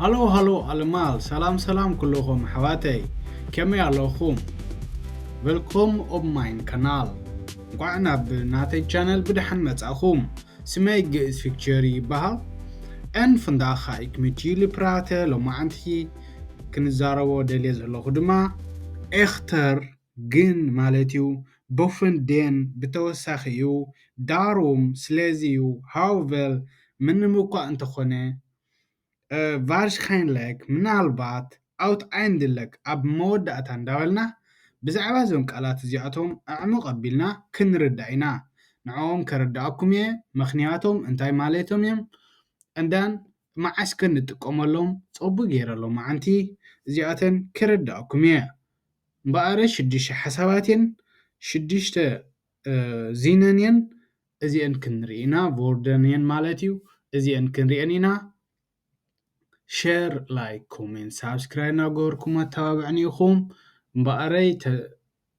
ሃሎ ሃሎ ኣልማል ሰላም ሰላም ኩሉኹም ኣሕዋተይ ከመይ ኣለኹም ቨልኮም ኦብ ማይን ካናል እንቋዕ ናብ ናተይ ቻነል ብድሓን መጻኹም ስመይ ግእዝ ፊክቸሪ ይበሃል ን ፍንዳኻ ኢክሚቲሊ ፕራተ ሎማዓንቲ ክንዛረቦ ደልየ ዘለኹ ድማ ኤኽተር ግን ማለት'ዩ Bofen den ብተወሳኺ'ዩ፣ Darum ስለዚ'ዩ፣ Hauvel ምንም'ኳ እንተኾነ፣ Wahrscheinlich ምናልባት፣ Aut Eindeleg ኣብ መወዳእታ እንዳበልና ብዛዕባ እዞም ቃላት እዚኣቶም ኣዕሙቕ ኣቢልና ክንርዳእ ኢና። ንዕኦም ከረድኣኩም'የ፣ ምኽንያቶም እንታይ ማለቶም'ዮም እንዳን መዓስ ከንጥቀመሎም ጸቡ ገይረ ሎማዓንቲ እዚኣተን ከረድኣኩም'የ። እምበኣረ ሽዱሽተ ሓሳባት እየን፣ ሽዱሽተ ዚነን እየን፣ እዚኤን ክንርኢ ኢና፣ ቮርደን እየን ማለት እዩ፣ እዚኤን ክንሪኤን ኢና። ሸር ላይክ ኮሜንት ሳብስክራይብ እናገበርኩም ኣተባብዕኒ ኢኹም እምበኣረይ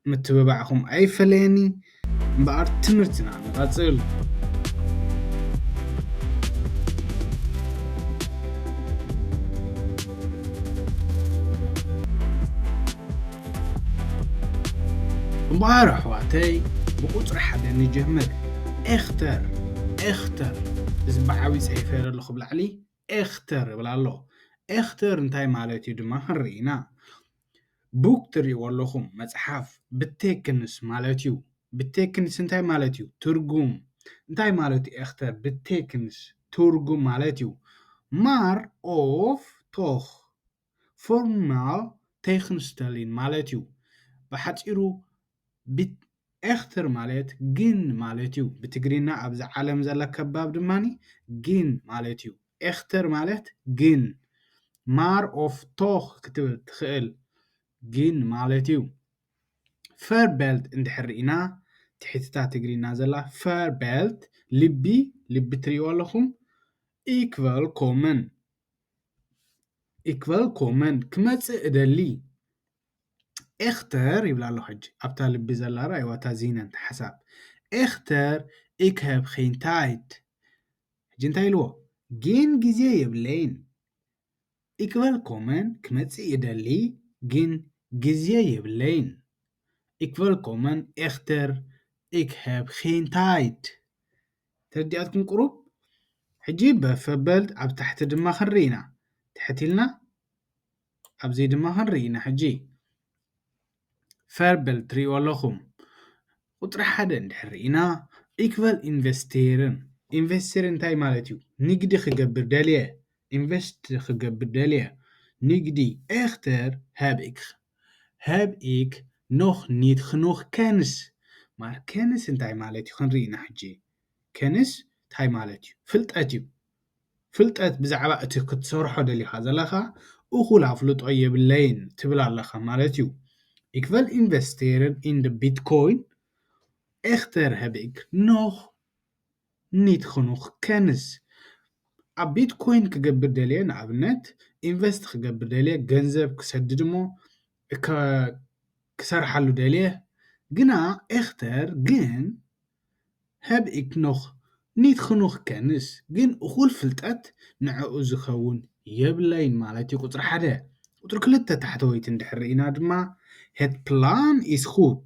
ምትብባዕኹም ኣይፈለየኒ። እምበኣር ትምህርትና ንቐጽል። እምበኣር ኣሕዋተይ ብቁጽሪ ሓደ ንጀምር። ኤክተር፣ Echter፣ እዚ ብዓቢ ጸሒፈ ኣለኹ ኣብ ላዕሊ። ኤክተር ይብል ኣሎ። ኤክተር እንታይ ማለት እዩ ድማ ክንርኢ ኢና። ቡክ ትሪእዎ ኣለኹም፣ መጽሓፍ፣ ብቴክንስ ማለት እዩ። ብቴክንስ እንታይ ማለት እዩ? ትርጉም። እንታይ ማለት እዩ ኤክተር ብቴክንስ? ትርጉም ማለት እዩ። ማር ኦፍ ቶኽ ፎርማል ተይክንስተሊን ማለት እዩ ብሓጺሩ ቢት ኤክትር ማለት ግን ማለት እዩ ብትግሪና ኣብዚ ዓለም ዘለ ከባብ ድማ ግን ማለት እዩ ኤክትር ማለት ግን ማር ኦፍ ቶክ ክትብል ትክእል ግን ማለት እዩ ፈር ቤልት እንድሕር ሪኢና ትሕቲታ ትግሪና ዘላ ፈር ቤልት ልቢ ልቢ ትሪእዎ ኣለኹም ኢክቨል ኮምን ኢክበል ኮመን ክመጽእ እደሊ ኤክተር ይብላ ኣሎ ሕጂ ኣብታ ልቢ ዘላ ራእይዋ እታ ዚነን ሓሳብ ኤክተር ኢክ ሀብ ኸይን ታይድ ሕጂ እንታይ ኢልዎ ጊን ግዜ የብለይን ኢክበል ኮመን ክመጽእ ይደሊ ጊን ግዜ የብለይን ኢክበል ኮመን ኤክተር ኢክ ሀብ ኸይን ታይድ ተርዲኣትኩም ቁሩብ ሕጂ በፍ ኣበል ኣብ ታሕቲ ድማ ክንሪ ኢና ትሕት ኢልና ኣብዚ ድማ ክንሪ ኢና ሕጂ ፈርበል ትሪእዎ ኣለኹም ቁፅሪ ሓደ እንድሕር ኢና ኢክቨል ኢንቨስቴርን ኢንቨስቴር እንታይ ማለት እዩ ንግዲ ክገብር ደልየ ኢንቨስት ክገብር ደልየ ንግዲ ኤክተር ሃብ ሀብ ኢክ ኖክ ኒት ክኑክ ከንስ ማር ከንስ እንታይ ማለት እዩ ክንርኢ ኢና ሕጂ ከንስ ታይ ማለት እዩ ፍልጠት እዩ ፍልጠት ብዛዕባ እቲ ክትሰርሖ ደሊካ ዘለካ እኩል ኣፍልጦ የብለይን ትብል ኣለካ ማለት እዩ ኢክ ቨል ኢንቨስቴረር ኢን ቢትኮይን ኤክተር ሀብ ኢክ ኖክ ኒት ኸኑክ ከንስ ኣብ ቢትኮይን ክገብር ደልየ ንኣብነት ኢንቨስት ክገብር ደልየ ገንዘብ ክሰድድ እሞ እከ ክሰርሓሉ ደልየ ግና ኤክተር ግን ሀብ ኢክ ኖክ ኒት ኸኑክ ከንስ ግን እኹል ፍልጠት ንዐኡ ዝከውን የብለይን ማለት እዩ ቁፅሪ ሓደ ቁፅሪ ክልተ ታሕተወይቲ እንድሕር ሪኢና ድማ ሄት ፕላን ኢስ ኹት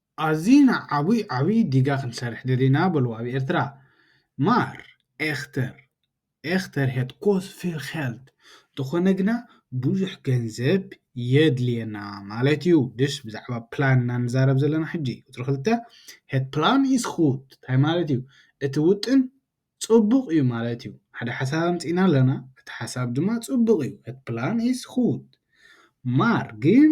ኣዚና ዓቡይ ዓቡይ ዲጋ ክንሰርሕ ደሊና በልዎ ኣብ ኤርትራ ማር ኤክተር ኤክተር ሄት ኮስ ፊል ኼልድ እንተኾነ ግና ቡዙሕ ገንዘብ የድልየና ማለት እዩ ድሽ ብዛዕባ ፕላን እና ንዛረብ ዘለና ሕጂ ቁጽሪ ክልተ ሄት ፕላን ኢስ ጉድ ታይ ማለት እዩ እቲ ውጥን ጽቡቅ እዩ ማለት እዩ ሓደ ሓሳብ ኣምጺእና ኣለና እቲ ሓሳብ ድማ ጽቡቅ እዩ ሄት ፕላን ኢስ ጉድ ማር ግን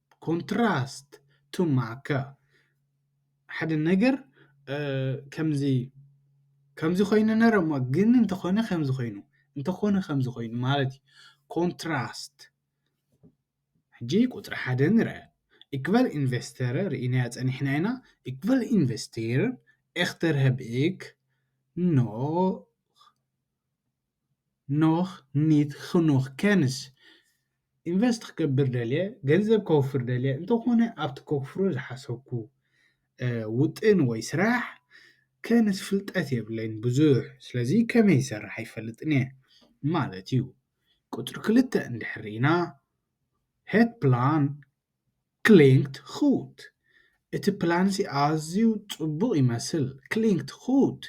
ኮንትራስት ቱ ማከ ሓደ ነገር ከምዚ ከምዚ ኮይኑ ነረ እሞ ግን እንተኾነ ከምዚ ኮይኑ እንተኾነ ከምዚ ኮይኑ ማለት እዩ ኮንትራስት ሕጂ ቁጽሪ ሓደ ንርአ ኢክበል ኢንቨስተረ ርኢናያ ጸኒሕና ኢና ኢክበል ኢንቨስቴር ኤክተርሀብክ ኖ። ኖህ ኒት ኽኑኽ ኬንስ ኢንቨስት ክገብር ደልየ ገንዘብ ከውፍር ደልየ እንተኾነ ኣብቲ ከውፍሮ ዝሓሰብኩ ውጥን ወይ ስራሕ ኬንስ ፍልጠት የብለይን ብዙሕ ስለዚ ከመይ ይሰርሕ ኣይፈልጥን እየ ማለት እዩ ቁፅሪ ክልተ እንድሕር ርኢና ሄት ፕላን ክሊንት ኹት፣ እቲ ፕላንሲ ኣዝዩ ጽቡቕ ይመስል። ክሊንት ኹት፣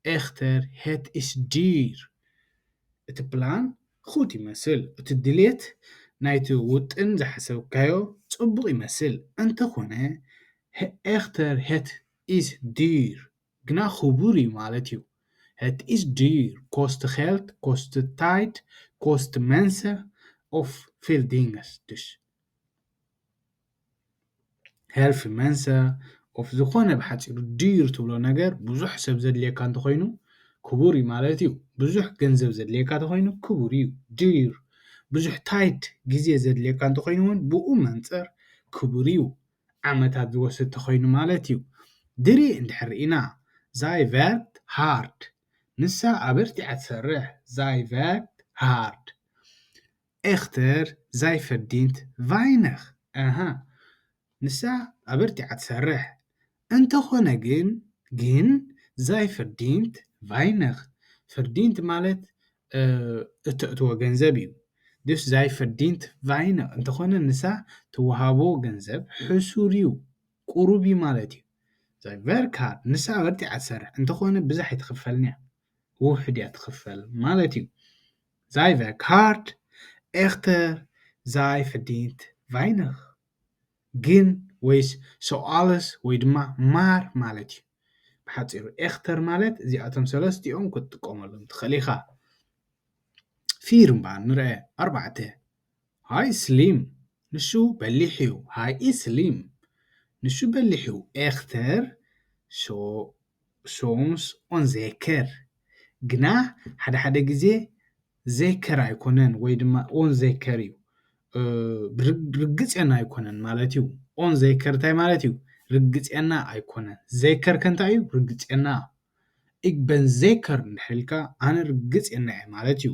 ኤኽተር ሄት ኢስ ዲር፣ እቲ ፕላን ኹት ይመስል፣ እቲ ድሌት ናይቲ ውጥን ዝሓሰብካዮ ጽቡቕ ይመስል፣ እንተኾነ ኤኽተር ሄት ኢስ ዲር ግና ኽቡር እዩ ማለት እዩ። ሄት ኢስ ዲር ኮስት ኼልት ኮስት ታይድ ኮስት መንሰ ኦፍ ፊልዲንግስ ድሽ ሄልፊ መንሰ ኦፍ ዝኾነ ብሓፂሩ ድዩር ትብሎ ነገር ብዙሕ ሰብ ዘድልየካ እንተኾይኑ ክቡር እዩ ማለት እዩ ብዙሕ ገንዘብ ዘድልየካ እንተኾይኑ ክቡር እዩ ድዩር ብዙሕ ታይት ግዜ ዘድልየካ እንተኾይኑ እውን ብኡ መንፅር ክቡር እዩ ዓመታት ዝወስድ እንተኾይኑ ማለት እዩ ድሪ እንድሕር ርኢና ዛይቨርት ሃርድ ንሳ ኣበርቲዓ ትሰርሕ ዛይቨርት ሃርድ። ኤኽተር ዛይ ፈርዲንት ቫይነኽ ኣሃ ንሳ ኣበርቲዓ ትሰርሕ እንተኾነ ግን ግን ዛይ ፈርዲንት ቫይነኽ ፈርዲንት ማለት እተእትዎ ገንዘብ እዩ ድስ ዛይ ፈርዲንት ቫይነኽ እንተኾነ ንሳ ትወሃቦ ገንዘብ ሕሱር እዩ ቁሩብ እዩ ማለት እዩ ዛይ ቨርካር ንሳ ኣበርቲዓ ትሰርሕ እንተኾነ ብዛሕ ኣይትኽፈልንያ ውሑድ እያ ትኽፈል ማለት እዩ Zij werkt hard, echter zij verdient weinig. ግን ወይስ ሰውኣልስ ወይ ድማ ማር ማለት እዩ። ብሓጺሩ ኤክተር ማለት እዚኣቶም ሰለስቲኦም ክትጥቀመሎም ትኽእል ኢኻ። ፊር እምበኣር ንርኣ ኣርባዕተ። ሃይ ስሊም ንሱ በሊሕ እዩ ሃይ ስሊም ንሱ በሊሕ እዩ ኤክተር ሶምስ ኦን ዘከር ግና ሓደ ሓደ ግዜ ዘከር ኣይኮነን ወይ ድማ ኦን ዘከር እዩ ርግፅና ኣይኮነን ማለት እዩ ኦን ዘከር እንታይ ማለት እዩ ርግፅና ኣይኮነን ዘከር ከ እንታይ እዩ ርግፅና እግበን ዘከር እንድሕር ኢልካ ኣነ ርግፅና እየ ማለት እዩ።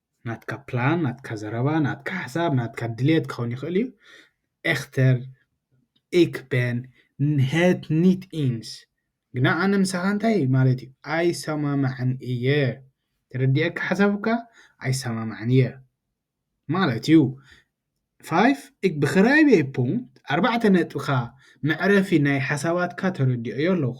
ናትካ ፕላን ናትካ ዘረባ ናትካ ሓሳብ ናትካ ድሌት ክኸውን ይኽእል እዩ ኤክተር ኢክ ቤን ንሄት ኒት ኢንስ ግና ኣነ ምሳኻ እንታይ ማለት እዩ ኣይሰማማዕን እየ ተረዲኤካ ሓሳብካ ኣይሰማማዕን እየ ማለት እዩ ፋይፍ እግ ብክራይቤ ፑንት ኣርባዕተ ነጥብካ መዕረፊ ናይ ሓሳባትካ ተረዲኦዮ ኣለኹ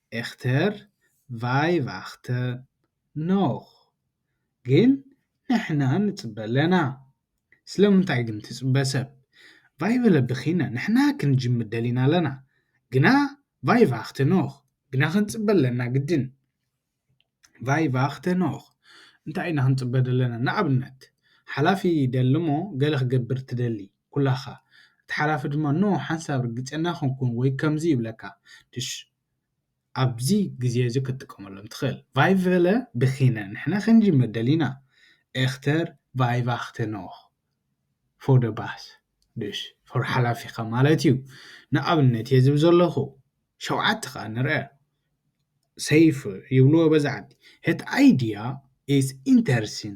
ኤክተር ቫይቭ ኣክተ ኖክ ግን ንሕና ንጽበ ኣለና ስለምንታይ ግን ትጽበ ሰብ ቫይቭለ ብኪነ ንሕና ክንጅምር ደሊና ኣለና ግና ቫይቭ ኣክተ ኖክ ግና ክንጽበ ኣለና ግድን ቫይቭ ኣክተ ኖክ እንታይ ኢና ክንጽበ ደለና ንኣብነት ሓላፊ ይደሊ እሞ ገለ ክገብር ትደሊ ኩላኻ። እቲ ሓላፊ ድማ ን ሓንሳብ ርግጸና ክንኩን ወይ ከምዚ ይብለካ። ድሽ ኣብዚ ግዜ እዚ ክትጥቀመሎም ትኽእል። ቫይቨለ ብኪነ ንሕና ክንጅምር ደሊና። ኤክተር ቫይቫክተ ኖክ ፎር ደ ባስ። ድሽ ፎር ሓላፊኻ ማለት እዩ። ንኣብነት እየ ዝብ ዘለኹ። ሸውዓተ ከኣ ንርኣ። ሰይፍ ይብልዎ በዚ ዓዲ። እቲ ኣይድያ ኢዝ ኢንተርሲን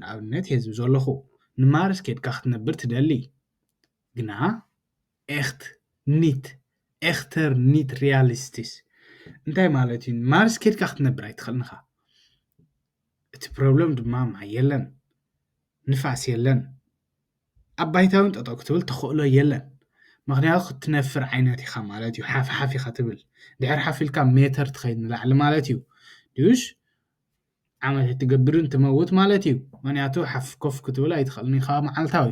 ንኣብነት ሔዝቢ ዞሎኹ ንማርስ ኬድካ ክትነብር ትደሊ ግና ኤኽት ኒት ኤኽተር ኒት ሪያሊስቲስ እንታይ ማለት እዩ ንማርስ ኬድካ ክትነብር ኣይትኽእልን ኢኻ እቲ ፕሮብለም ድማ ማይ የለን ንፋስ የለን ኣብ ባይታውን ጠጠው ክትብል ተኽእሎ የለን ምክንያቱ ክትነፍር ዓይነት ኢኻ ማለት እዩ ሓፍ ሓፍ ኢኻ ትብል ድሕር ሓፍ ኢልካ ሜተር ትኸይድ ንላዕሊ ማለት እዩ ድዩሽ ዓመት ኣይትገብርን ትመውት ማለት እዩ ምክንያቱ ሓፍ ኮፍ ክትብል ኣይትኽእልን ኢኻ መዓልታዊ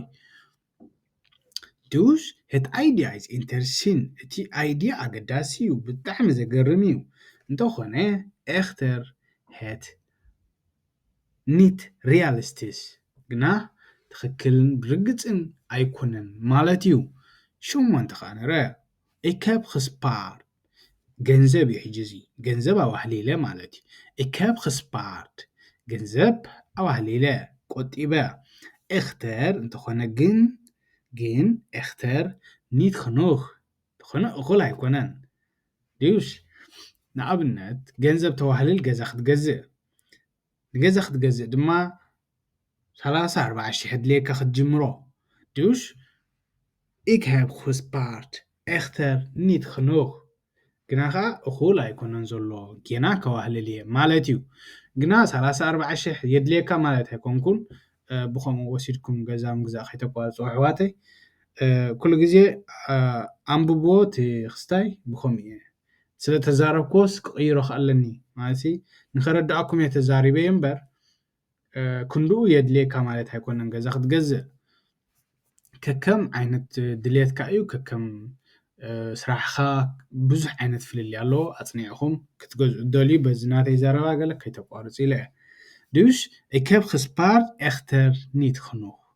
ዱስ እቲ ኣይድያ ኢዝ ኢንተርሲን እቲ ኣይድያ ኣገዳሲ እዩ ብጣዕሚ ዘገርም እዩ እንተኾነ ኤክተር ሄት ኒት ሪያልስትስ ግና ትኽክልን ብርግጽን ኣይኮነን ማለት እዩ ሸሞንተ ከኣ ንረ እከብ ክስፓርድ ገንዘብ እዩ ሕጂ እዚ ገንዘብ ኣዋህሊለ ማለት እዩ እከብ ክስፓርድ ገንዘብ ኣዋህሊለ ቆጢበ እክተር እንተኾነ ግን ግን እክተር ኒት ኽኑክ እንተኾነ እኹል ኣይኮነን ድዩሽ ንኣብነት ገንዘብ ተዋህልል ገዛ ክትገዝእ ንገዛ ክትገዝእ ድማ ሰላሳ ኣርባዓ ሽሕ ኣድልየካ ክትጅምሮ ዱሽ ኢክ ሃብ ኹስፓርት ኤክተር ኒት ኽኑክ ግና ኸኣ እኹል ኣይኮነን ዘሎ ጌና ከዋህልል እየ ማለት እዩ ግና ሰላሳ ኣርባዓ ሽሕ የድልየካ ማለት ኣይኮንኩን ብኸምኡ ወሲድኩም ገዛ ምግዛእ ከይተቋርጹ ኣሕዋተይ ኩሉ ግዜ ኣንብብዎ እቲ ኽስታይ ብኸምኡ እየ ስለ ተዛረብክዎስ ክቕይሮ ከ ኣለኒ ማለትሲ ንኸረድኣኩም እየ ተዛሪበዮ እምበር ክንድኡ የድልየካ ማለት ኣይኮነን ገዛ ክትገዝእ ከከም ዓይነት ድልየትካ እዩ ከከም ስራሕኻ ብዙሕ ዓይነት ፍልልይ ኣለዎ ኣጽኒዕኹም ክትገዝኡ ትደልዩ በዚ ናተይ ዘረባ ገለ ከይተቋርጹ ኢለ እየ Dus ik heb gespaard echter niet genoeg.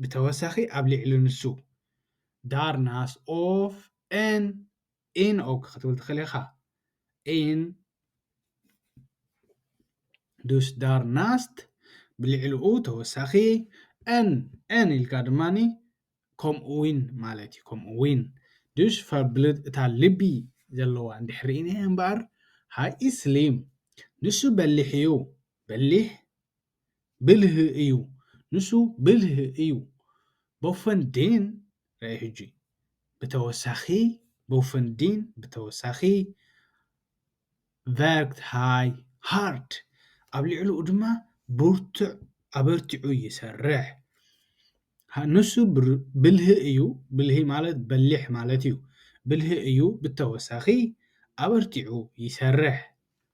ብተወሳኺ ኣብ ሊዕሊ ንሱ፣ ዳር ናስ ኦፍ ኤን ኢን ኦክ ክትብል ትኽእል ኢኻ። ኢን ዱስ ዳር ናስት ብልዕሊኡ ተወሳኺ፣ ኤን ኤን ኢልካ ድማ ከምኡውን ማለት እዩ። ከምኡውን ዱስ ቨርብልድ እታ ልቢ ዘለዋ እንድሕር ርኢና እምበኣር፣ ሃይ ኢዝ ስሊም ንሱ በሊሕ እዩ፣ በሊሕ ብልህ እዩ ንሱ ብልህ እዩ ቦፈንዲን ረኣይ ሕጂ ብተወሳኺ ቦፈንዲን ብተወሳኺ ቨርክት ሃይ ሃርድ ኣብ ልዕሊኡ ድማ ብርቱዕ ኣበርቲዑ ይሰርሕ ንሱ ብልህ እዩ ብልሂ ማለት በሊሕ ማለት እዩ ብልህ እዩ ብተወሳኺ ኣበርቲዑ ይሰርሕ።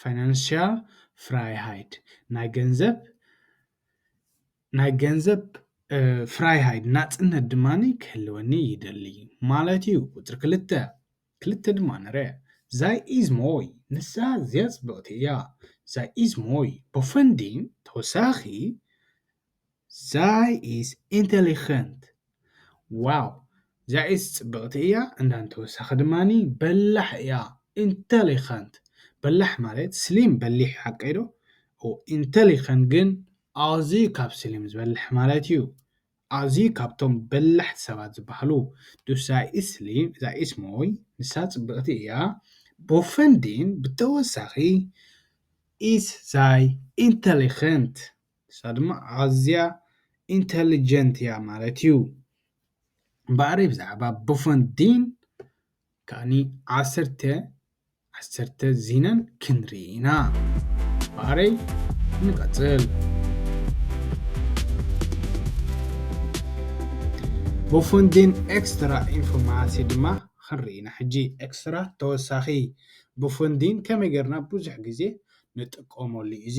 ፋይናንሽያል ፍራይሃይድ፣ ናይ ገንዘብ ናይ ገንዘብ ፍራይሃይድ፣ ናጽነት፣ ድማ ክህልወኒ ይደሊ ማለት እዩ። ቁጽሪ ክልተ ክልተ ድማ ንረ። ዛይ ኢዝ ሞይ፣ ንሳ ኣዝያ ጽብቕቲ እያ። ዛይ ኢዝ ሞይ፣ በፈንዲን ተወሳኺ ዛይ ኢስ ኢንተሊኸንት ዋው ዛይስ ጽብቕቲ እያ እንዳን ተወሳኺ ድማኒ በላሕ እያ ኢንተሊኸንት በላሕ ማለት ስሊም በሊሕ ሓቀይ ዶ ኢንተሊኸንት ግን ኣዝዩ ካብ ስሊም ዝበልሕ ማለት እዩ ኣዝዩ ካብቶም በላሕቲ ሰባት ዝበሃሉ ዱሳይስ ስሊም ዛይስ ሞይ ንሳ ጽብቕቲ እያ ቦፈንዲን ብተወሳኺ ኢስ ዛይ ኢንተሊኸንት ንሳ ድማ ኣዝያ ኢንተሊጀንት እያ ማለት እዩ። እምበኣር ብዛዕባ ቡፈንዲን ከኣኒ ዓሰርተ ዓሰርተ ዚነን ክንርኢ ኢና። እምበኣረይ ንቐጽል። ቡፈንዲን ኤክስትራ ኢንፎርማሲ ድማ ክንርኢ ኢና ሕጂ። ኤክስትራ ተወሳኺ ቡፈንዲን ከመይ ጌርና ብዙሕ ግዜ ንጥቀመሉ እዩ እዚ።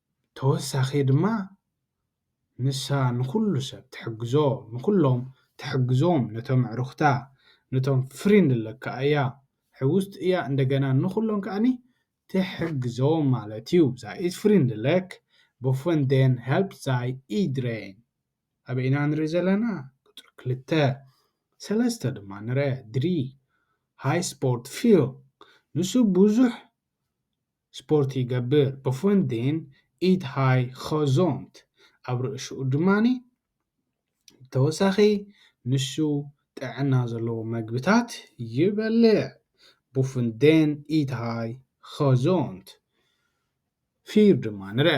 ተወሳኪ ድማ ንሳ ንኩሉ ሰብ ትሕግዞ ንኩሎም ትሕግዞም ነቶም ኣዕሩክታ ነቶም ፍሪንድ ኣለካ ኣያ ሕውስቲ እያ እንደገና ንኩሎም ከኣ ትሕግዞም ማለት እዩ ዛይ ኢዝ ፍሪንድ ለክ ቦፈን ደን ሀልፕ ዛይ ኢድሬን ኣበይ ኢና ንርኢ ዘለና ቁፅሪ ክልተ ሰለስተ ድማ ንርኣ ድሪ ሃይ ስፖርት ፊል ንሱ ብዙሕ ስፖርት ይገብር ብፍን ዴን ኢት ሃይ ኸዞምት ኣብ ርእሽኡ ድማ ብተወሳኺ ንሱ ጥዕና ዘለዎ መግብታት ይበልዕ ብፍን ዴን ኢት ሃይ ኸዞምት ፊር ድማ ንርኣ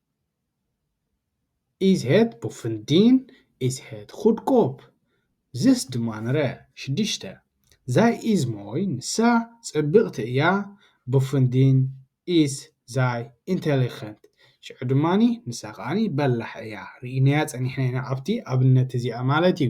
ኢዝ ሄት ቡፍንዲን ኢዝ ሄት ኹድኮፕ ዝስ ድማንረ ሽዱሽተ ዛይ ኢዝ ሞይ ንሳ ጽብቕቲ እያ ቡፍንዲን ኢዝ ዛይ ኢንተሊኸንት ሽዑ ድማ ንሳ ኸኣ በላሕ እያ ርኢናያ ጸኒሕና ኢና ኣብቲ ኣብነት እዚኣ ማለት እዩ።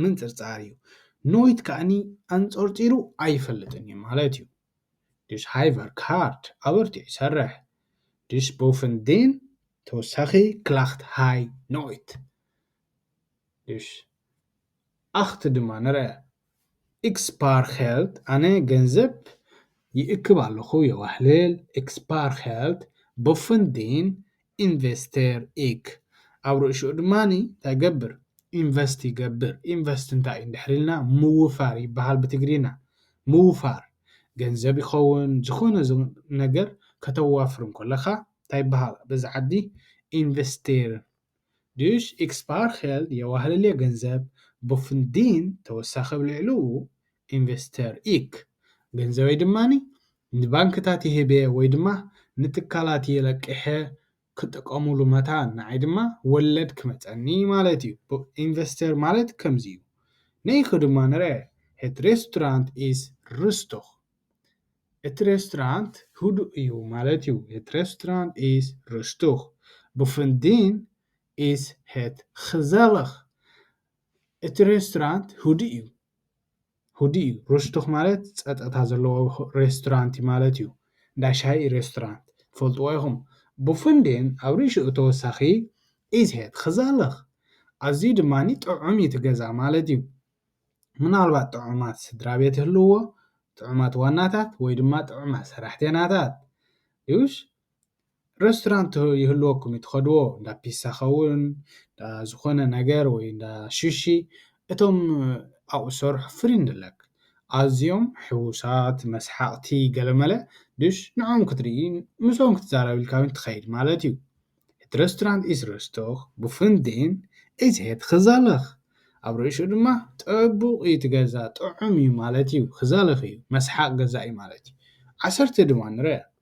ምንጽርጻር እዩ። ኖይት ከኣኒ ኣንጸርጺሩ ኣይፈልጥን እዩ ማለት እዩ። ዱስ ሃይቨር ካርት ኣበርቲዑ ይሰርሕ። ዱስ ቦፍን ዲን ተወሳኺ ክላኽት ሃይ ኖይት። ዱስ ኣኽት ድማ ንርኣ። ኢክስፓርኸልት ኣነ ገንዘብ ይእክብ ኣለኹ የዋህልል። ኢክስፓርኸልት ቦፍን ዲን ኢንቨስቴር ኢክ። ኣብ ርእሽኡ ድማ እንታይ ይገብር? ኢንቨስት ይገብር። ኢንቨስት እንታይ እዩ እንድሕር ኢልና ምውፋር ይበሃል ብትግርይና። ምውፋር ገንዘብ ይኸውን ዝኾነ ነገር ከተዋፍር እንከለኻ እንታይ ይበሃል በዚ ዓዲ ኢንቨስቴር። ዱሽ ኢክ ስፓር ኼልድ የዋህልል የ ገንዘብ ቦፍን ዲን ተወሳኺ ኣብ ልዕልኡ ኢንቨስተር ኢክ። ገንዘበይ ድማ ንባንክታት ይህብ'የ ወይ ድማ ንትካላት የለቂሐ ክጥቐሙሉ መታን ንዓይ ድማ ወለድ ክመጸኒ ማለት እዩ። ኢንቨስተር ማለት ከምዚ እዩ። ንኢክ ድማ ንርኣ ኤት ሬስቶራንት ኢስ ሩስቱኽ። እቲ ሬስቶራንት ህዱእ እዩ ማለት እዩ። ኤት ሬስቶራንት ኢስ ሩስቱኽ። ቡፍንዲን ኢስ ሄት ግዘልኽ። እቲ ሬስቶራንት ህዱእ እዩ። ሁዲ እዩ ሩስቱክ ማለት ጸጥታ ዘለዎ ሬስቶራንት ማለት እዩ እንዳ ሻሂ ሬስቶራንት ትፈልጥዎ ኢኹም ብፍንድን ኣብ ርእሽኡ ተወሳኺ ኢዝሄድ ክዛለኽ ኣዝዩ ድማ ጥዑም እዩ እቲ ገዛ ማለት እዩ ምናልባት ጥዑማት ስድራ ቤት ይህልውዎ ጥዑማት ዋናታት ወይ ድማ ጥዑማት ሰራሕተይናታት እዩሽ ረስቶራንት ይህልወኩም እዩ ትኸድዎ እንዳ ፒሳ ኸውን እንዳ ዝኾነ ነገር ወይ እንዳ ሹሺ እቶም ኣብኡ ዝሰርሑ ፍልይ ንለክ ኣዝዮም ሕውሳት መስሓቕቲ ገለመለ ድሽ ንዕኦም ክትርኢ ምስኦም ክትዛረብ ኢልካ ውን ትኸይድ ማለት እዩ። Het restaurant is rustig, bevonden is het gezellig ኣብ ርእሽኡ ድማ ጽቡቕ እዩ እቲ ገዛ ጥዑም እዩ ማለት እዩ gezellig እዩ መስሓቕ ገዛ እዩ ማለት እዩ ዓሰርተ ድማ ንርኣ።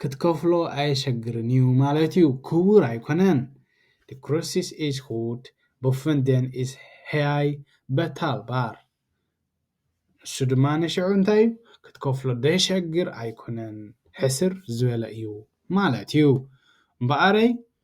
ክትከፍሎ ኣየሸግርን እዩ ማለት እዩ ክቡር ኣይኮነን ዲ ክርሲስ ኢስ ሁድ ቦፍን ደን ኢስ ሄይ በታል ባር ንሱ ድማ ንሽዑ እንታይ እዩ ክትከፍሎ ደሸግር ኣይኮነን ሕስር ዝበለ እዩ ማለት እዩ እምበኣረይ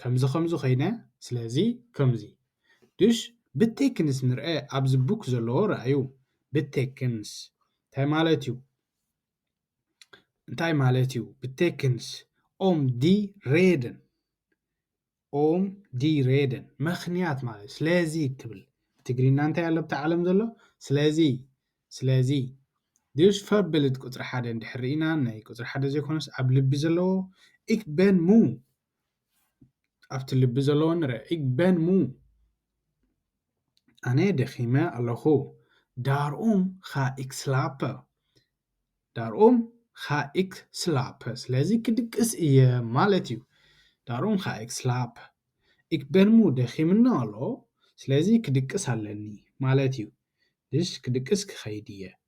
ከምዚ ከምዚ ኮይነ ስለዚ ከምዚ ዱሽ ብቴክንስ ንርኤ ኣብዚ ቡክ ዘለዎ ረኣዩ ብቴክንስ እንታይ ማለት እዩ እንታይ ማለት እዩ ብቴክንስ ኦም ዲ ሬድን ኦም ዲ ሬድን ምክንያት ማለት ስለዚ ትብል ትግሪና እንታይ ኣሎ ኣብቲ ዓለም ዘሎ ስለዚ ስለዚ ዱሽ ፈርብልድ ቁፅሪ ሓደ እንድሕር ርኢና ናይ ቁፅሪ ሓደ ዘይኮነስ ኣብ ልቢ ዘለዎ ኢክ በን ሙ ኣብቲ ልቢ ዘለዎ ንረ እግ በን ሙ ኣነ ደኺመ ኣለኹ ዳርኡም ኻእክ ስላፐ ዳርኡም ኻእክ ስላፐ ስለዚ ክድቅስ እየ ማለት እዩ ዳርኡም ኻእክ ስላፐ እግ በን ሙ ደኺምና ኣሎ ስለዚ ክድቅስ ኣለኒ ማለት እዩ ድሽ ክድቅስ ክኸይድ እየ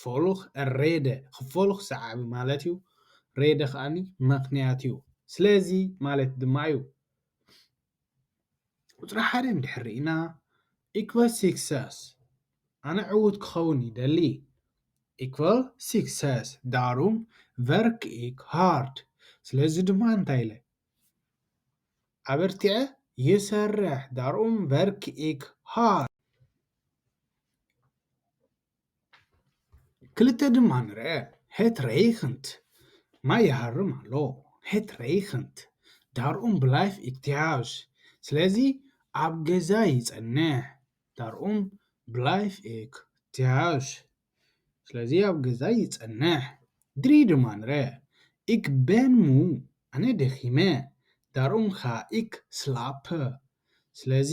ፎሉኽ፣ ረደ፣ ኽፎሉኽ ሰዓቢ ማለት እዩ። ረደ ኸኣኒ መኽንያት እዩ። ስለዚ ማለት ድማ እዩ። ቁጽሪ ሓደ እንድሕር ርኢና ኢኩቫል ሲክሰስ፣ ኣነ ዕዉት ክኸውን ይደሊ። ኢኩቫል ሲክሰስ፣ ዳሩም ቨርክ ኢክ ሃርድ፣ ስለዚ ድማ እንታይ ኢለ? ኣበርቲዐ ይሰርሕ፣ ዳሩም ቨርክ ኢክ ሃርድ። ክልተ ድማ ንርኣ፣ ሄት ሬይኽንት፣ ማይ ይሃርም ኣሎ፣ ሄት ሬይኽንት፣ ዳር ኡም ብላይፍ ኢክ ትሃውስ፣ ስለዚ ኣብ ገዛ ይጸንሕ፣ ዳር ኡም ብላይፍ ኢክ ትሃውስ፣ ስለዚ ኣብ ገዛ ይጸንሕ፣ ድሪ ድማ ንርኣ፣ ኢክ በን ሙ፣ ኣነ ደኺመ፣ ዳር ኡም ኻ ኢክ ስላፐ፣ ስለዚ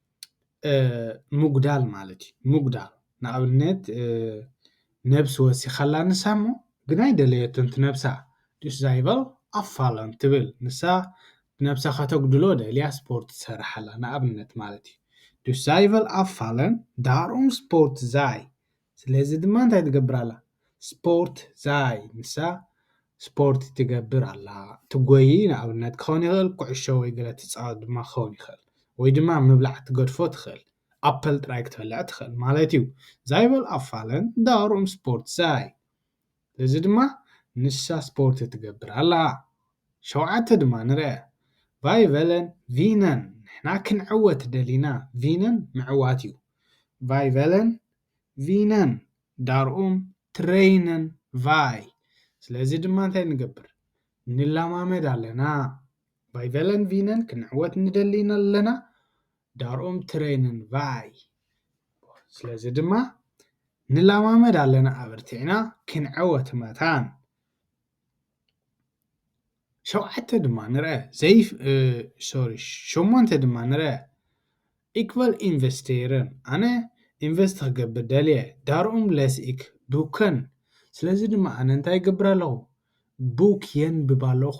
ምጉዳል ማለት እዩ ምጉዳል ንኣብነት ነብሲ ወሲካ ኣላ ንሳ እሞ ግን ኣይደለየትን እቲ ነብሳ ዱስ ዛይበር ኣፋልም ትብል ንሳ ነብሳ ከተጉድሎ ደልያ ስፖርት ትሰርሕ ኣላ ንኣብነት ማለት እዩ ዱስ ዛይበር ኣፋልም ዳሩም ስፖርት ዛይ ስለዚ ድማ እንታይ ትገብር ኣላ? ስፖርት ዛይ ንሳ ስፖርት ትገብር ኣላ። ትጎዪ ንኣብነት ክኸውን ይኽእል፣ ኩዕሾ ወይ ገለ ትጻወት ድማ ክኸውን ይኽእል። ወይ ድማ ምብላዕ ትገድፎ ትኽእል። ኣፕል ጥራይ ክትበልዕ ትኽእል ማለት እዩ። ዛይ በል ኣፋለን፣ ዳሩም ስፖርት ዛይ። ስለዚ ድማ ንሳ ስፖርት ትገብር ኣላ። ሸውዓተ ድማ ንርኣ። ቫይ ቨለን ቪነን ንሕና ክንዕወት ደሊና ቪነን ምዕዋት እዩ። ቫይ ቨለን ቪነን ዳርኡም ትረይነን ቫይ ስለዚ ድማ እንታይ ንገብር ንለማመድ ኣለና። ቫይ ቨለን ቪነን ክንዕወት ንደሊ ኣለና ዳርኦም ትረይንን ቫይ። ስለዚ ድማ ንላማመድ ኣለና ኣበርቲዕና ክንዕወት መታን። ሸውዓተ ድማ ንርአ ዘይ ሶሪ ሸሞንተ ድማ ንርአ ኢክቨል ኢንቨስቴርን ኣነ ኢንቨስት ክገብር ደልየ ዳርኦም ለስኢክ ቡከን ስለዚ ድማ ኣነ እንታይ ይገብር ኣለኹ ቡክ የንብብ ኣለኹ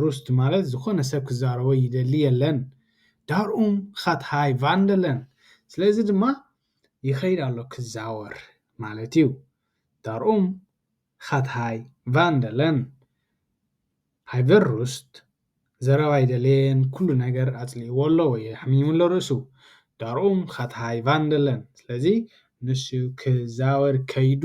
ሩስት ማለት ዝኾነ ሰብ ክዛረቦ ይደሊ የለን ዳርኡም ኻት ሃይ ቫንደለን ስለዚ ድማ ይኸይድ ኣሎ ክዛወር ማለት እዩ ዳርኡም ኻት ሃይ ቫንደለን ሃይቨር ሩስት ዘረባ ኣይደለየን ኩሉ ነገር ኣጽሊእዎ ኣሎ ወይ ኣሕሚሙ ኣሎ ርእሱ ዳርኡም ኻት ሃይ ቫንደለን ስለዚ ንሱ ክዛወር ከይዱ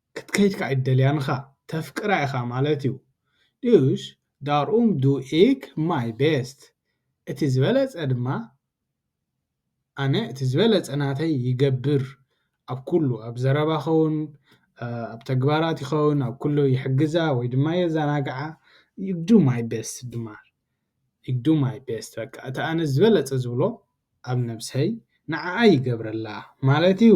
ክትከይድ ከኣ ኣይትደልያን ኢኻ ተፍቅራ ኢኻ ማለት እዩ ድዩሽ ዳርኡም ዱ ኢክ ማይ ቤስት እቲ ዝበለጸ ድማ ኣነ እቲ ዝበለጸ ናተይ ይገብር ኣብ ኩሉ ኣብ ዘረባ ይኸውን ኣብ ተግባራት ይኸውን ኣብ ኩሉ ይሕግዛ ወይ ድማ የዛናግዓ ዩ ዱ ማይ ቤስት ድማ ዩ ዱ ማይ ቤስት በቃ እቲ ኣነ ዝበለጸ ዝብሎ ኣብ ነብሰይ ንዓኣ ይገብረላ ማለት እዩ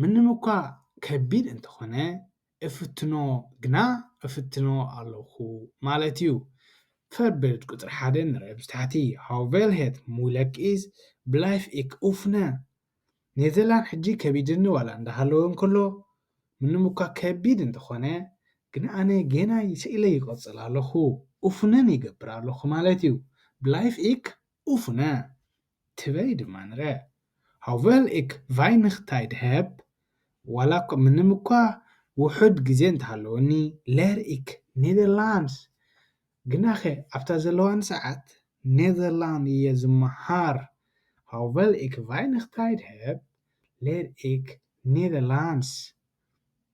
ምንም እኳ ከቢድ እንተኾነ እፍትኖ ግና እፍትኖ ኣሎኹ ማለት እዩ። Förebild ቁጽሪ ሓደ ንርእ ምስ ታሕቲ Hur väl het moeilijk is, blijf ik oefenen ኔዘርላንድ ሕጂ ከቢድኒ ዋላ እንዳሃለወ እንከሎ፣ ምንም እኳ ከቢድ እንተኾነ ግና ኣነ ጌና ይሰኢለ ይቕጽል ኣሎኹ፣ ኡፍነን ይገብር ኣሎኹ ማለት እዩ። Blijf ik oefenen። ትበይ ድማ ንረ ሆቨል እክ ቫይንኽ ታይድ ሀብ፣ ዋላ እኳ ምንም እኳ ውሑድ ግዜ እንተ ሃለወኒ ለር እክ ኔዘርላንድስ፣ ግናኸ ኣብታ ዘለዋኒ ሰዓት ኔዘርላንድ እየ ዝመሃር፣ ሆቨል እክ ቫይንኽ ታይድ ሀብ፣ ለር እክ ኔዘርላንድስ።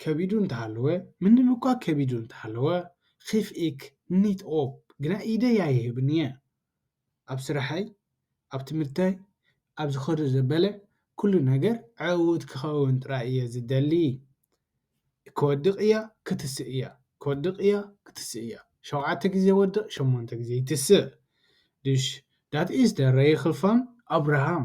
ከቢዱ እንተሃለወ፣ ምንም እኳ ከቢዱ እንተሃለወ፣ ኺፍ ኢክ ኒት ኦፕ፣ ግና ኢደይ ኣይህብን እየ። ኣብ ስራሐይ፣ ኣብ ትምህርተይ፣ ኣብ ዝኸዶ ዘበለ ኩሉ ነገር ዕዉት ክኸውን ጥራይ እየ ዝደሊ። ክወድቕ እያ ክትስእ እያ፣ ክወድቕ እያ ክትስእ እያ፣ ሸውዓተ ግዜ ወድቕ ሸሞንተ ግዜ ይትስእ። ድሽ ዳት ኢስ ደ ረይኽል ፋን ኣብርሃም።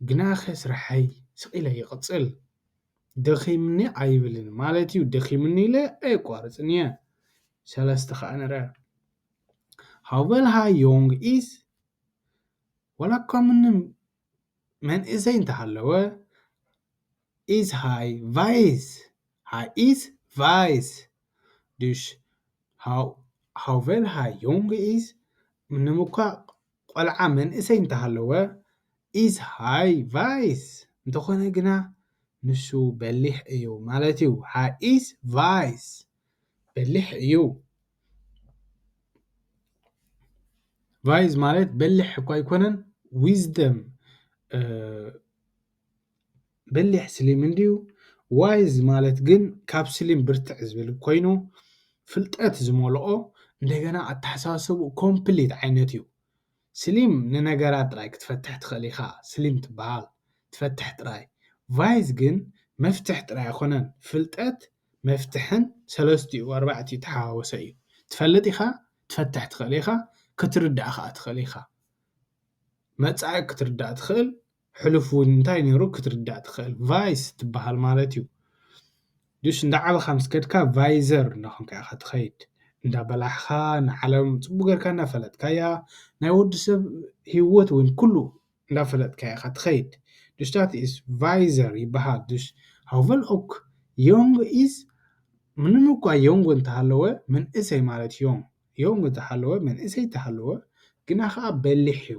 ግናኸ ስርሐይ ስቕ ኢለ ይቕጽል። ደኺሙኒ ኣይብልን፣ ማለት'ዩ ደኺሙኒ ኢለ ኣየቋርጽን እየ። ሰለስተ ኸኣ ንርኣ። ሃው ቨል ሃይ ዮንግ ኢዝ? ዋላ'ኳ ምንም መንእሰይ እንተሃለወ፣ ኢዝ ሃይ ቫይዝ? ሃይ ኢዝ ቫይዝ? ዱሽ ሃው ቨል ሃይ ዮንግ ኢዝ? ምንም እኳ ቆልዓ መንእሰይ እንተሃለወ ኢዝ ሃይ ቫይስ እንተኾነ ግና ንሱ በሊሕ እዩ ማለት እዩ። ሃይ ኢዝ ቫይስ በሊሕ እዩ። ቫይዝ ማለት በሊሕ እኳ ኣይኮነን ዊዝደም በሊሕ ስሊም እንድዩ ዋይዝ ማለት ግን ካብ ስሊም ብርትዕ ዝብል ኮይኑ ፍልጠት ዝመልኦ እንደገና ኣተሓሳስብኡ ኮምፕሊት ዓይነት እዩ ስሊም ንነገራት ጥራይ ክትፈትሕ ትኽእል ኢኻ ስሊም ትበሃል ትፈትሕ ጥራይ ቫይዝ ግን መፍትሕ ጥራይ ኣይኮነን ፍልጠት መፍትሕን ሰለስትኡ ኣርባዕትኡ ዝተሓዋወሰ እዩ ትፈልጥ ኢኻ ትፈትሕ ትኽእል ኢኻ ክትርዳእ ኸኣ ትኽእል ኢኻ መጻኢ ክትርዳእ ትኽእል። ሕሉፍ ውን እንታይ ነሩ ክትርዳእ ትክእል ቫይስ ትባሃል ማለት ዩ ዱሽ እንዳዓበካ ምስ ከድካ ቫይዘር እንዳኮንካ ኢካ ትከይድ እንዳበላሕካ ንዓለም ጽቡቅ ገርካ እንዳፈለጥካያ ናይ ወዲ ሰብ ሂወት ውን ኩሉ እንዳፈለጥካያ ኢካ ትከይድ ዱሽ ዳት ኢስ ቫይዘር ይባሃል ዱሽ ሃውቨል ኦክ ዮንግ ኢስ ምንም እኳ ዮንግ እንተሃለወ መንእሰይ ማለት ዮንግ ዮንግ እንተሃለወ መንእሰይ እንተሃለወ ግና ከኣ በሊሕ ዩ።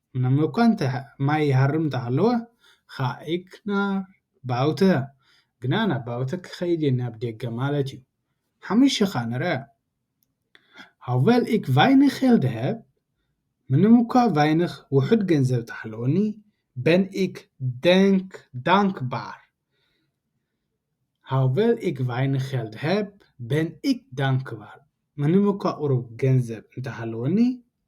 ምንም እኳ እንተ ማይ ይሃርም እንተ ሃለወ ኻኢክ ናብ ባውተ ግና ናብ ባውተ ክኸይድ እየ ናብ ደገ ማለት እዩ ሓሙሽተ ኻኣ ንርኣ ሆውቨል ኢክ ቫይንኽ ሄል ደ ሀብ ምንም እኳ ቫይንኽ ውሑድ ገንዘብ እንተ ሃለወኒ በን ኢክ ደንክ ዳንክ ባር ሆውቨል ኢክ ቫይንኽ ሄል ደ ሀብ በን ኢክ ዳንክ ባር ምንም እኳ ቁሩብ ገንዘብ እንተ ሃለወኒ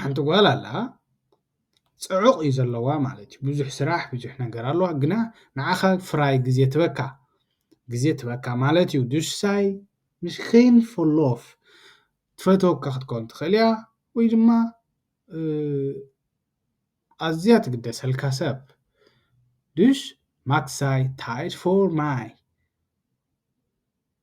ሓንቲ ጓል ኣላ ጽዑቕ እዩ ዘለዋ ማለት እዩ ብዙሕ ስራሕ ብዙሕ ነገር ኣለዋ ግና ንዓኻ ፍራይ ግዜ ትበካ ግዜ ትበካ ማለት እዩ ድሳይ ንሽኺን ፎሎፍ ትፈተወካ ክትከውን ትኽእል እያ ወይ ድማ ኣዝያ ትግደሰልካ ሰብ ድሽ ማክሳይ ታይድ ፎር ማይ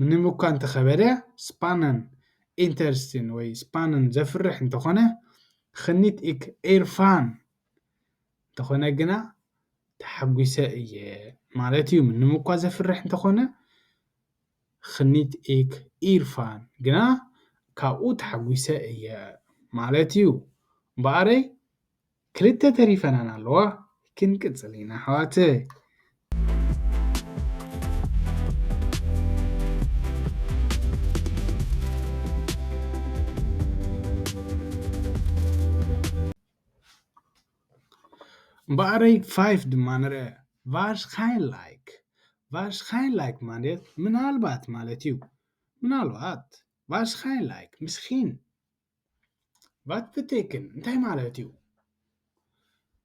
ምንም እኳ እንተኸበደ ስፓነን ኢንተርስቲን ወይ ስፓነን ዘፍርሕ እንተኾነ ኽኒት እክ ኤርፋን እንተኾነ ግና ተሓጒሰ እየ ማለት እዩ ምንም እኳ ዘፍርሕ እንተኾነ ኽኒት እክ ኢርፋን ግና ካብኡ ተሓጒሰ እየ ማለት እዩ እምበኣረይ ክልተ ተሪፈናን ኣለዋ ክንቅጽል ኢና ኣሕዋተይ። እምበኣረይ ፋይፍ ድማ ንርኣ ቫርሽካይንላይክ ቫርሽካይንላይክ ማለት ምናልባት ማለት እዩ ምናልባት ቫርሽካይንላይክ ምስኪን ቫትፍቴክን እንታይ ማለት እዩ?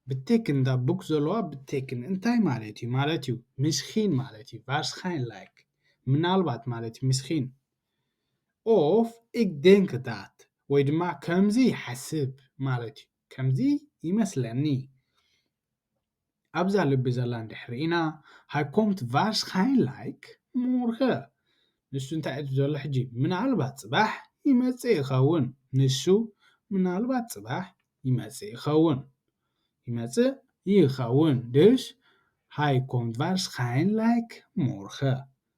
ብቴክን እታ ቡክ ዘለዋ ብቴክን እንታይ ማለት እዩ? ማለት እዩ ምስኪን ማለት እዩ። Waarschijnlijk ምናልባት ማለት እዩ ምስኪን of ik denk dat ወይ ድማ ከምዚ ይሓስብ ማለት እዩ ከምዚ ይመስለኒ። ኣብዛ ልቢ ዘላ እንድሕር ርኢና ሃይ ኮምት ቫርሽካይን ላይክ ሞርኸ ንሱ እንታይ እዩ ዘሎ ሕጂ ምናልባት ጽባሕ ይመጽእ ይኸውን ንሱ ምናልባት ጽባሕ ይመጽእ ይኸውን ይመጽእ ይኸውን ድሽ ሃይ ኮምት ቫርሽካይን ላይክ ሞርኸ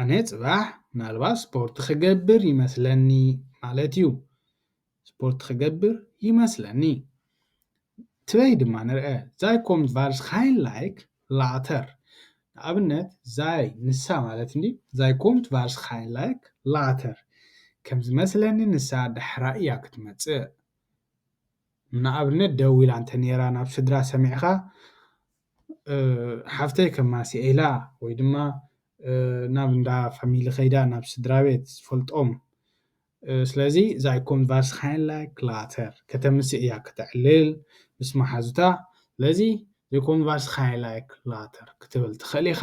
ኣነ ጽባሕ ምናልባት ስፖርት ክገብር ይመስለኒ ማለት እዩ ስፖርት ክገብር ይመስለኒ ትበይ ድማ ንርአ ዛይ ኮም ቫርስ ሃይን ላይክ ላተር ንኣብነት ዛይ ንሳ ማለት እንዲ ዛይ ኮምት ቫርስ ሃይን ላይክ ላተር ከም ዝመስለኒ ንሳ ዳሕራ እያ ክትመጽእ ንኣብነት ደው ኢላ እንተ ነይራ ናብ ስድራ ሰሚዕኻ ሓፍተይ ከማስያ ኢላ ወይ ድማ ናብ እንዳ ፋሚሊ ከይዳ ናብ ስድራቤት ዝፈልጦም ስለዚ እዛ ኮምቫርስሃይንላይ ክላተር ከተምሲ እያ ከተዕልል ምስ መሓዙታ ስለዚ ዘይኮምቫርስሃይንላይ ክላተር ክትብል ትኽእል ኢኻ።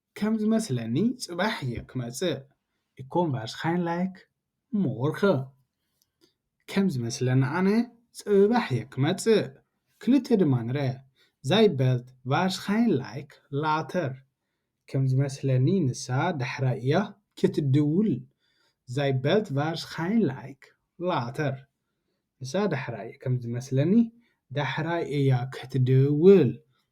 ከም ዝመስለኒ ጽባሕ እየ ክመጽእ እኮም ቫርሽካይን ላይክ ሞርኸ ከም ዝመስለኒ ኣነ ጽባሕ እየ ክመጽእ ክልተ ድማ ንርኣ ዛይበልት ቫርሽካይን ላይክ ላተር ከም ዝመስለኒ ንሳ ዳሕራይ እያ ክትድውል ዛይበልት ቫርሽካይን ላይክ ላተር ንሳ ዳሕራይ ከም ዝመስለኒ ዳሕራይ እያ ክትድውል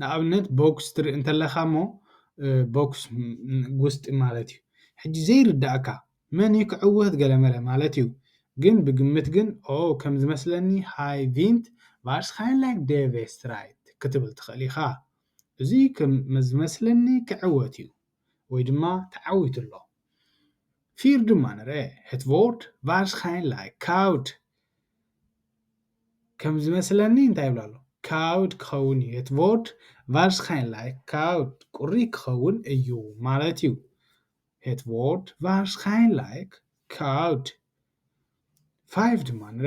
ንኣብነት ቦክስ ትርኢ እንተለኻ እሞ ቦክስ ጉስጢ ማለት እዩ ሕጂ ዘይርዳኣካ መን እዩ ክዕወት ገለመለ ማለት እዩ ግን ብግምት ግን ኦው ከም ዝመስለኒ ሃይ ቪንት ቫርስካንላይክ ደቨ ስትራይት ክትብል ትኽእል ኢኻ እዚ ከም ዝመስለኒ ክዕወት እዩ ወይ ድማ ተዓዊቱ ኣሎ። ፊር ድማ ንረ ሄት ቮርድ ቫርሽካይንላይ ካውድ ከም ዝመስለኒ እንታይ ይብላ ኣሎ ካውድ ክኸውን እዩ ሄት ቮርድ ቫርሽካይንላይ ካውድ ቁሪ ክኸውን እዩ ማለት እዩ ሄት ቮርድ ቫርሽካይንላይ ካውድ ፋይቭ ድማ ንረ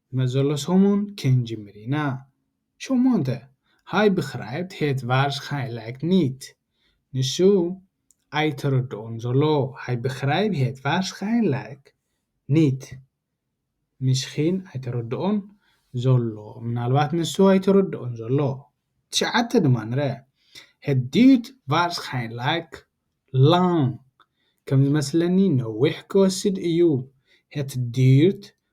መዘሎ ሰሙን ክንጅምር ኢና ሸሞንተ ሃይ ብክራይብት ሄት ቫርሽካይላይክ ኒት ንሱ ኣይተረድኦን ዘሎ ሃይ ብክራይብ ሄት ቫርሽካይላይክ ኒት ሚስኪን ኣይተረድኦን ዘሎ ምናልባት ንሱ ኣይተረድኦን ዘሎ ትሽዓተ ድማ ንረ ሄት ዲዩት ቫርሽካይላይክ ላንግ ከም ዝመስለኒ ነዊሕ ክወስድ እዩ ሄት ዲዩት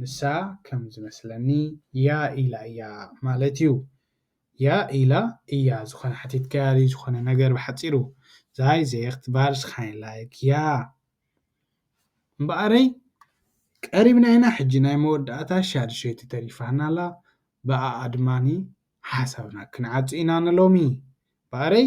ንሳ ከም ዝመስለኒ ያ ኢላ እያ ማለት እዩ። ያ ኢላ እያ ዝኾነ ሓቲትካያ ድዩ ዝኾነ ነገር ብሓጺሩ Sei zegt waarschijnlijk ja እምበኣረይ ቀሪብና ኢና ሕጂ ናይ መወዳእታ ሻድሸይቲ ተሪፋና ኣላ ብኣኣ ድማኒ ሓሳብና ክንዓጹ ኢና ንሎሚ እምበኣረይ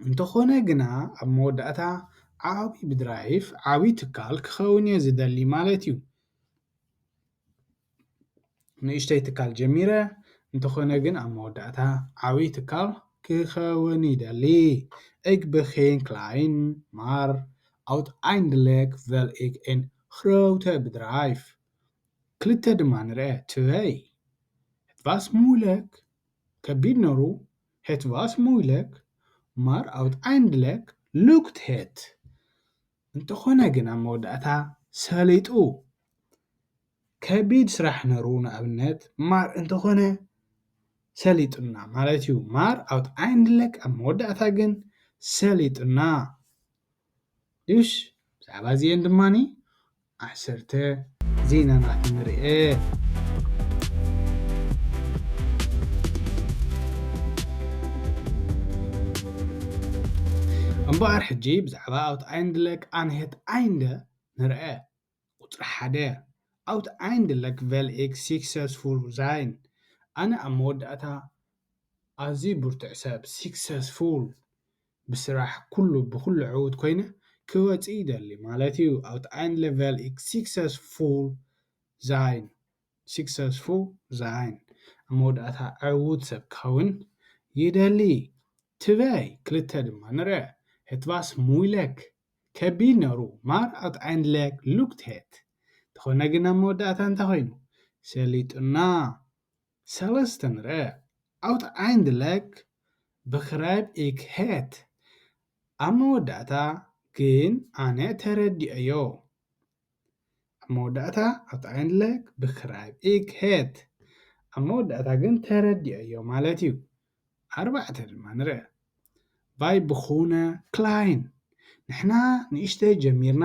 እንተኾነ ግና ኣብ መወዳእታ ዓቢ ብድራይፍ ዓቢ ትካል ክኸውን እየ ዝደሊ ማለት እዩ። ንእሽተይ ትካል ጀሚረ እንተኾነ ግን ኣብ መወዳእታ ዓቢ ትካል ክኸውን ይደሊ። እግ ብኼን ክላይን ማር ኣውት ኣይንድለግ ቨል እግ ኤን ክረውተ ብድራይፍ ክልተ ድማ ንርኣ ትበይ ቫስ ሙለክ። ከቢድ ነሩ ሄት ቫስ ሞይለክ ማር ኣውት ኣይንድለክ ሉክት ሄት እንተኾነ ግን ኣብ መወዳእታ ሰሊጡ ከቢድ ስራሕ ነሩ ንኣብነት ማር እንተኾነ ሰሊጡና ማለት እዩ ማር ኣውት ኣይንድለክ ኣብ መወዳእታ ግን ሰሊጡና ዱሽ ብዛዕባ እዚኤን ድማ ዓሰርተ ዜናናት ንርኤ። እምበኣር ሕጂ ብዛዕባ ኣውት ኣይንድለ ቃንሔት ኣይንደ ንርኤ። ቁጽሪ ሓደ፣ ኣውትኣይንድለክ ቨል ኤክ ሲክሰስፉል ዛይን፣ ኣነ ኣብ መወዳእታ ኣዝዩ ብርቱዕ ሰብ፣ ሲክሰስፉል፣ ብስራሕ ኩሉ ብኹሉ ዕዉት ኮይነ ክወጽእ ይደሊ ማለት እዩ፣ ኣውትኣይንድለክ ቨል ኤክ ሲክሰስፉል ዛይን፣ ሲክሰስፉል ዛይን፣ ኣብ መወዳእታ ዕዉት ሰብ ክኸውን ይደሊ። ትበይ ክልተ ድማ ንርኣ፣ ሄት ቫስ ሙይለክ ከቢድ ነሩ ማር ኣት ዓይንድለክ ሉክት ሄት ተኾነ ግን ኣብ መወዳእታ እንታይ ኮይኑ ሰሊጡና ሰለስተ ንርእ ኣውት ዓይንድለክ ብክራይብ ኢክ ሄት ኣብ መወዳእታ ግን ኣነ ተረዲኤዮ ኣብ መወዳእታ ኣውትኣይንድለክ ብክራይብ ኢክ ሄት ኣብ መወዳእታ ግን ተረዲኦዮ ማለት እዩ። ኣርባዕተ ድማ ንርኣ። ቫይ ብኩነ ክላይን ንሕና ንእሽተይ ጀሚርና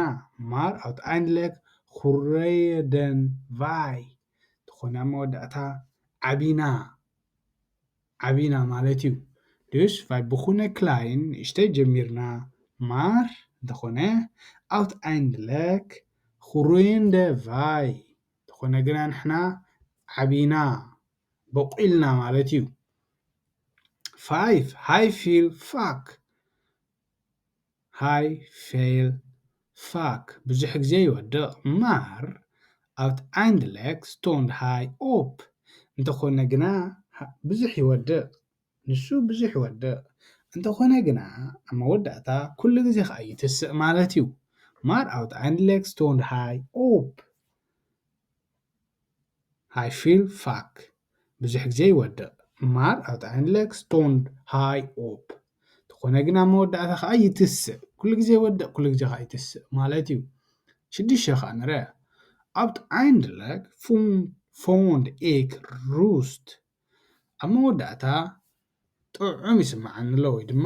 ማር ኣውትኣይንድለክ ኹረየደን ቫይ ትኾነ ኣብ መወዳእታ ዓቢና። ዓቢና ማለት ዩ ድዩስ ፋይ ብኩነ ክላይን ንእሽተይ ጀሚርና ማር እንተኮነ ኣውት ኣይንድ ለክ ኹሩይንደ ቫይ እንተኮነ ግና ንሕና ዓቢና ቦቂልና ማለት ዩ ፋይፍ ሃይ ፊል ፋክ ሃይ ፌል ፋክ ብዙሕ ግዜ ይወድቕ ማር ኣውት ኣይንድለክ ስቶንድ ሃይ ኦፕ እንተኾነ ግና ብዙሕ ይወድቕ ንሱ ብዙሕ ይወድቕ እንተኾነ ግና ኣብ መወዳእታ ኩሉ ግዜ ኸኣ ይትስእ ማለት እዩ ማር ኣውት ኣይንድለክ ስቶንድ ሃይ ኦፕ ሃይ ፌል ፋክ ብዙሕ ግዜ ይወድቕ ማር ኣብ ጣዕኒ ለክ ስቶንድ ሃይ ኦፕ ተኾነ ግን ኣብ መወዳእታ ከኣ ይትስእ ኩሉ ግዜ ይወድቕ ኩሉ ግዜ ከኣ ይትስእ ማለት እዩ ሽዱሽተ ከኣ ንረ ኣብ ጣዕኒ ለክ ፎንድ ኤክ ሩስት ኣብ መወዳእታ ጥዑም ይስምዓኒ ኣሎ ወይ ድማ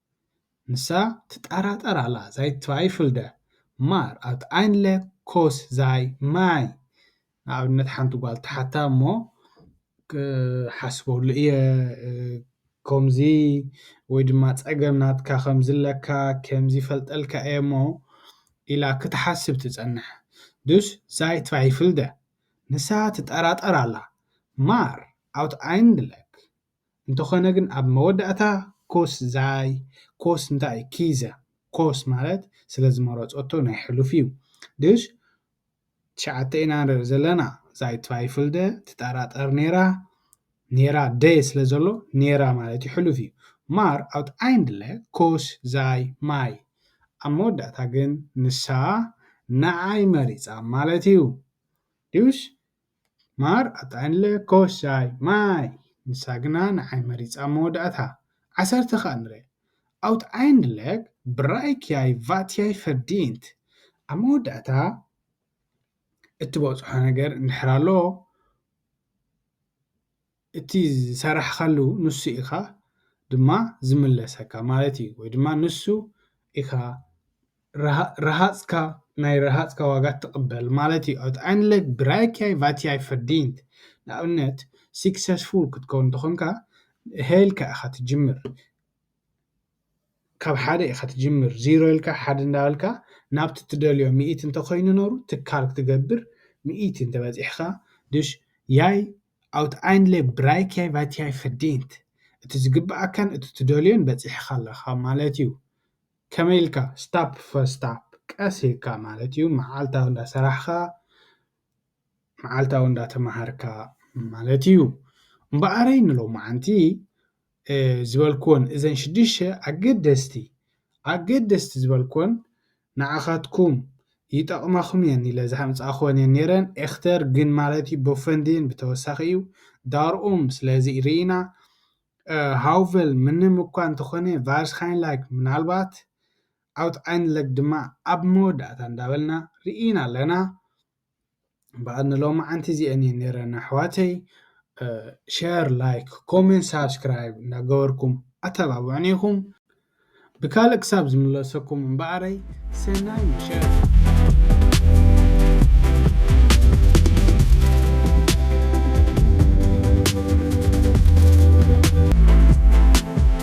ንሳ ትጠራጠር ኣላ ዛይትዋይፍልደ ማር ኣብቲ ኣይንለ ኮስ ዛይ ማይ ንኣብነት ሓንቲ ጓል ትሓታ እሞ ክሓስበሉ እየ ከምዚ ወይ ድማ ፀገም ናትካ ከምዚ ኣለካ ከምዚ ይፈልጠልካ እየ እሞ ኢላ ክትሓስብ ትፀንሕ ዱስ ዛይትዋይፍልደ ንሳ ትጠራጠር ኣላ ማር ኣብቲ ኣይንለ እንተኾነ ግን ኣብ መወዳእታ ኮስ ዛይ፣ ኮስ እንታይ እዩ ኪዘ፣ ኮስ ማለት ስለ ዝመረጸቶ ናይ ሕሉፍ እዩ። ድሽ ትሽዓተ ኢና ንርኢ ዘለና፣ ዛይ ትቫይፍልደ፣ ትጠራጠር ኔራ፣ ኔራ ደ ስለ ዘሎ ኔራ ማለት እዩ ሕሉፍ እዩ። ማር ኣውትኣይንድለ ኮስ ዛይ ማይ፣ ኣብ መወዳእታ ግን ንሳ ንዓይ መሪጻ ማለት እዩ። ድሽ? ማር ኣጥዕንለ ኮሻይ ማይ ንሳ ግና ንዓይ መሪጻ መወዳእታ ዓሰርተ ከኣ ንረ ኣውት ዓይንድለክ ብራይክያይ ቫትያይ ፈርዲንት ኣብ መወዳእታ እትበጽሖ ነገር እንድሕር ኣሎ እቲ ዝሰራሕኻሉ ንሱ ኢኻ ድማ ዝምለሰካ ማለት እዩ ወይ ድማ ንሱ ኢኻ ረሃጽካ ናይ ረሃጽካ ዋጋ ትቕበል ማለት እዩ ኣትኣይንለግ ብራይክያይ ቫትያይ ፈርዲንት ንኣብነት ሲክሰስፉል ክትከውን እንተኾንካ ሄልካ ኢኻ ትጅምር ካብ ሓደ ኢኻ ትጅምር ዚሮ ኢልካ ሓደ እንዳበልካ ናብቲ ትደልዮ ሚእቲ እንተኮይኑ ነሩ ትካል ክትገብር ሚእቲ እንተበፂሕኻ ድሽ ያይ ኣውት ኣይን ሌብ ድራይክያይ ቫትያይ ፈርዲንት፣ እቲ ዝግብኣካን እቲ ትደልዮን በጺሕኻ ኣለኻ ማለት እዩ። ከመይ ኢልካ? ስታፕ ፈር ስታፕ፣ ቀስ ኢልካ ማለት እዩ፣ መዓልታዊ እንዳሰራሕኻ፣ መዓልታዊ እንዳተማሃርካ ማለት እዩ። እምበኣረይ ንሎማዓንቲ ዝበልክወን እዘን ሽዱሽተ ኣገደስቲ ኣገደስቲ ዝበልክወን ንዓኻትኩም ይጠቕማኹም እየን ኢለ ዝሃምጻእክወን እየን ነይረን ኤክተር ግን ማለት እዩ ቦፈንዲን ብተወሳኺ እዩ ዳርኡም ስለዚ ርኢና ሃውቨል ምንም እኳ እንተኾነ ቫርስካይንላይክ ምናልባት ኣውት ኣይንለግ ድማ ኣብ መወዳእታ እንዳበልና ርኢና ኣለና በኣል ንሎምዓንቲ እዚኤን እየን ነረን ኣሕዋተይ ሸር ላይክ ኮሜንት ሳብስክራይብ እናገበርኩም ኣተባብዑኒ ኢኹም ብካልእ ክሳብ ዝምለሰኩም እምበኣረይ ሰናይ ምሸት